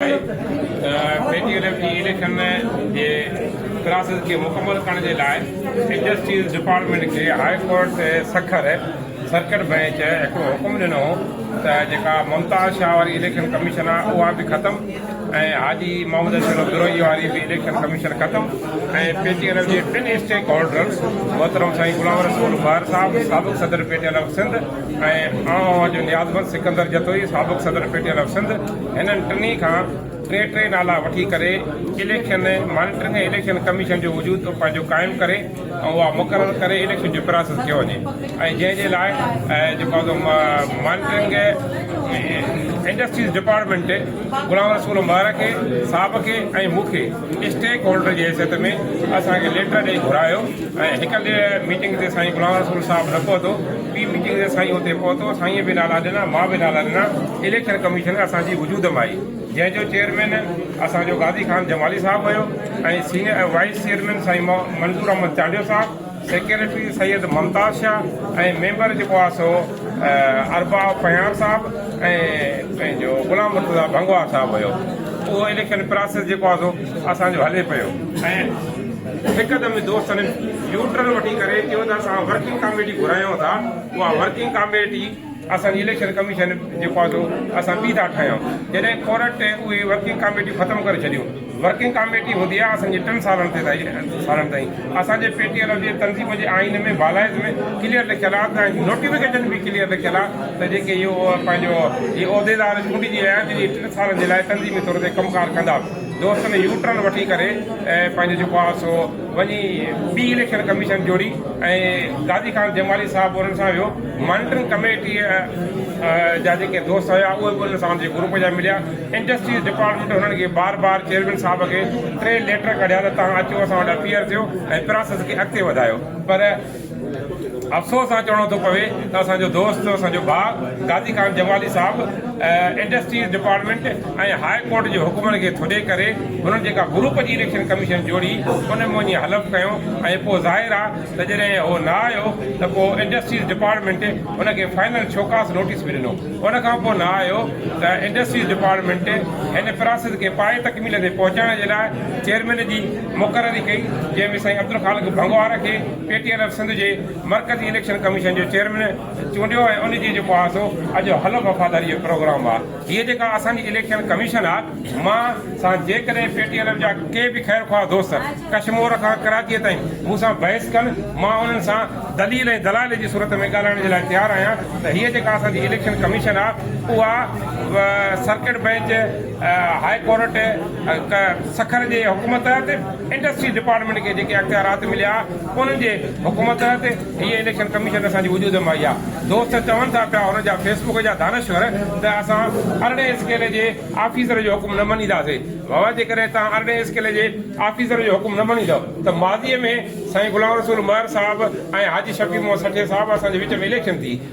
ٽي T L F جي election جي process کي مڪمل ڪرڻ جي لاء انڊسٽريز ڊپارٽمينٽ کي هاء ڪورٽ تي سکر سرڪٽ بئنچ هڪڙو حڪم ڏنو هو ته جيڪا ممتاز شاهه واري اليڪشن ڪميشن آهي اها به ختم ۽ حاجي محمد اشرف دروهي واري به اليڪشن ڪميشن ختم ۽ پي ٽي ايل ايف جي ٽن اسٽيڪ هولڊرز محترم سائين غلام رسول مهر صاحب سابق صدر P T L F Sindh ۽ آء اوهان جو نيازمند سڪندر جتوئي سابق صدر P T I of Sindh هنن ٽنهي کان ٽي ٽي نالا وٺي ڪري اليڪشن مانيٽرنگ ۽ اليڪشن ڪميشن جو وجود پنهنجو قائم ڪري ۽ اها مقرر ڪري اليڪشن جو پراسيس ڪيو وڃي ۽ جنهن جي لاء جيڪو monitoring industries department Ghulam Rasool Mehar کي صاحب کي ۽ مون کي اسٽيڪ هولڊر جي حيثيت ۾ اسان کي ليٽر ڏئي گهرايو ۽ هڪ ميٽنگ تي سائين غلام رسول صاحب نه پهتو پي پي جي سائين اتي پهتو، سائينء به نالا ڏنا، مان به نالا ڏنا، اليڪشن ڪميشن اسان جي وجود م آئي، جنهن جو چيئرمين اسان جو غازي خان جمالي صاحب هيو ۽ سينئر ۽ وائيس چيئرمين سائين منظور احمد چانڊيو صاحب، سيڪريٽري سيد ممتاز شاهه ۽ ميمبر جيڪو آ سو ارباب پنهيار صاحب ۽ پنهنجو غلام مرتضيٰ ڀنگوار صاحب هيو. اهو اليڪشن پراسيس جيڪو آ سو اسان جو هلي پيو ۽ هڪدم دوستن يو ٽرن وٺي ڪري چيو ته اسان ورڪنگ ڪاميٽي گهرايون ٿا اها ورڪنگ ڪاميٽي اسان جي اليڪشن ڪميشن جيڪو آهي سو اسان ٻي ٿا ٺاهيون جڏهن ڪورٽ اهي ورڪنگ ڪاميٽيون ختم ڪري ڇڏيون ورڪنگ ڪاميٽي هوندي آهي اسان جي ٽن سالن تي سالن تائين اسان جي پي ٽي ايل جي تنظيم جي آئين ۾ بالائز ۾ ڪليئر لکيل آهي ته نوٽيفڪيشن به ڪليئر لکيل آهي ته جيڪي اهو پنهنجو عهديدار چونڊجي آيا جن جي ٽن سالن جي لاء تنظيمي طور تي ڪم ڪار ڪندا دوستن يو ٽرن وٺي ڪري ۽ پنهنجو جيڪو آهي سو وڃي ٻي اليڪشن ڪميشن جوڙي ۽ غازي خان جمالي صاحب انهن سان ويو مانيٽرنگ ڪميٽي جا جيڪي دوست هيا اهي به انهن سان جي گروپ جا مليا انڊسٽريز ڊپارٽمينٽ هنن کي بار بار چيئرمين صاحب کي ٽي ليٽر ڪڍيا ته توهان اچو اسان وٽ اپيئر ٿيو ۽ پراسيس کي اڳتي وڌايو پر افسوس سان چوڻو ٿو پوي ته اسان جو دوست اسان جو ڀاء غازي خان جمالي صاحب انڊسٽريز ڊپارٽمينٽ ۽ هاء ڪورٽ جي حڪمن کي ٿڏي ڪري هنن جيڪا گروپ جي اليڪشن ڪميشن جوڙي ان ۾ وڃي حلف کنيو ۽ پوء ظاهر آ ته جڏهن هو نه آيو ته پوء انڊسٽريز ڊپارٽمينٽ هن کي فائنل شوڪاس نوٽيس به ڏنو ان کان پوء نه آيو ته انڊسٽريز ڊپارٽمينٽ هن پراسيس کي پائي تڪميل تي پهچائڻ جي لاء چيئرمين جي مقرري ڪئي جنهن ۾ سائين عبدالخالق ڀنگوار کي P T N F Sindh جي مرڪزي اليڪشن ڪميشن جو چيئرمين چونڊيو ۽ ان جي جيڪو آهي سو اڄ حلف وفاداري جو پروگرام آهي هيء جيڪا اسان جي اليڪشن ڪميشن آهي مان سان جيڪڏهن پي ٽي اين ايف جا ڪي به خير خواهه دوست ڪشمور کان ڪراچيء تائين مون سان بحث ڪن مان انهن سان دليل ۽ دلائل جي صورت ۾ ڳالهائڻ جي لاء تيار آهيان ته هيء جيڪا اسان جي اليڪشن ڪميشن آهي اها circuit bench high court Sukkur جي حڪم تحت انڊسٽري ڊپارٽمينٽ کي جيڪي اختيارات مليا انهن جي حڪم تحت هيء اليڪشن ڪميشن اسان جي وجود ۾ آئي آهي دوست چون ٿا پيا انهن جا فيس بڪ جا دانشور ته اسان ارڙهين اسڪيل جي آفيسر جو حڪم نه مڃينداسي بابا جيڪڏهن توهان ارڙهين اسڪيل جي آفيسر جو حڪم نه مڃيندؤ ته ماضي ۾ سائين غلام رسول مهر صاحب ۽ حاجي شفيع محمد سٺي صاحب اسان جي وچ ۾ اليڪشن ٿي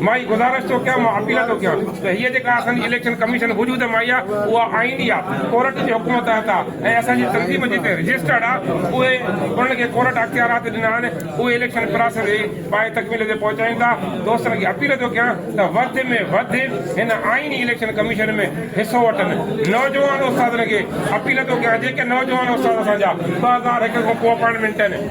مان هي گذارش ٿو ڪيان، مان اپيل ٿو ڪيان ته هيء جيڪا اسان جي اليڪشن ڪميشن وجود ۾ آئي آهي، اها آئيني آهي، ڪورٽ جي حڪم تحت آهي ۽ اسان جي تنظيم جتي رجسٽرڊ آهي، اهي انهن کي ڪورٽ اختيارات ڏنا آهن، اهي اليڪشن پراسيس کي پايي تڪميل تي پهچائين ٿا. دوستن کي اپيل ٿو ڪيان ته وڌ ۾ وڌ هن آئيني اليڪشن ڪميشن ۾ حصو وٺن. نوجوان استادن کي اپيل ٿو ڪيان، جيڪي نوجوان استاد اسان جا ٻه هزار هڪ کان پوء اپائنٽمينٽ ڏين،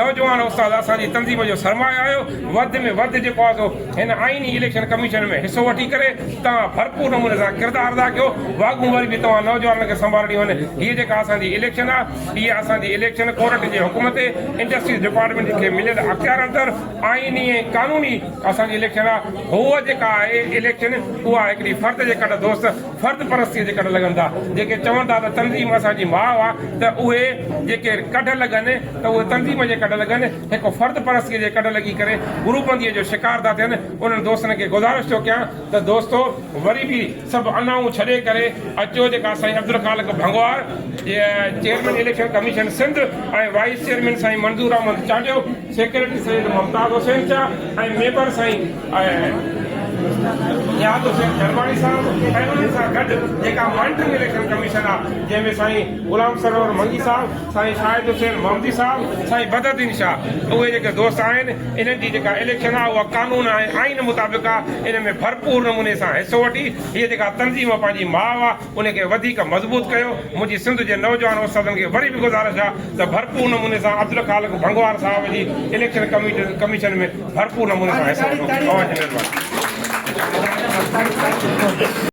نوجوان استاد اسان جي تنظيم جو سرمايه آهيو، وڌ ۾ وڌ جيڪو آهي سو هن آئيني اليڪشن ڪميشن ۾ حصو وٺي ڪري توهان ڀرپور نموني سان ڪردار ادا ڪيو، واڳون وري به توهان نوجوانن کي سنڀالڻي هن هيء جيڪا اسان جي اليڪشن آهي اها اسان جي اليڪشن ڪورٽ جي حڪم تي انڊسٽريز ڊپارٽمينٽ کي مليل اختيارن تر آئيني ۽ قانوني اسان جي اليڪشن آهي هوء جيڪا آهي اليڪشن اها هڪڙي فرد جي ڪڍ دوست فرد پرستيء جي ڪڍ لڳن ٿا، جيڪي چون ٿا ته تنظيم اسان جي ماء آ ته اهي جيڪي ڪڍ لڳن ته اهي تنظيم جي ڪڍ لڳن، هڪ فرد پرستيء جي ڪڍ لڳي ڪري گروپ بنديء جو شڪار ٿا ٿين، انهن دوستن کي گذارش ٿو ڪيان ته دوستو وري به سڀ انائون ڇڏي ڪري اچو جيڪا سائين Abdul Khaliq Bhangwar chairman election commission Sindh ۽ vice chairman سائين منظور احمد چانڊيو سيڪريٽري سيد ممتاز حسين شاهه ۽ ميمبر سائين نياز حسين شرماڻي صاحب ۽ انهن سان گڏ جيڪا مانيٽرنگ اليڪشن ڪميشن آهي جنهن ۾ سائين غلام سرور منگي صاحب، سائين شاهد حسين محمدي صاحب، سائين بدرالدين شاهه اهي جيڪي دوست آهن انهن جي جيڪا اليڪشن آهي اها قانون ۽ آئين مطابق آهي ان ۾ ڀرپور نموني سان حصو وٺي هيء جيڪا تنظيم پنهنجي ماء ان کي وڌيڪ مضبوط ڪيو، منهنجي سنڌ جي نوجوان استادن کي وري به گذارش آ ته ڀرپور نموني سان عبدالخالق ڀنگوار صاحب جي اليڪشن ڪميشن ۾ ڀرپور نموني سان حصو وٺو. اوهان جي مهرباني.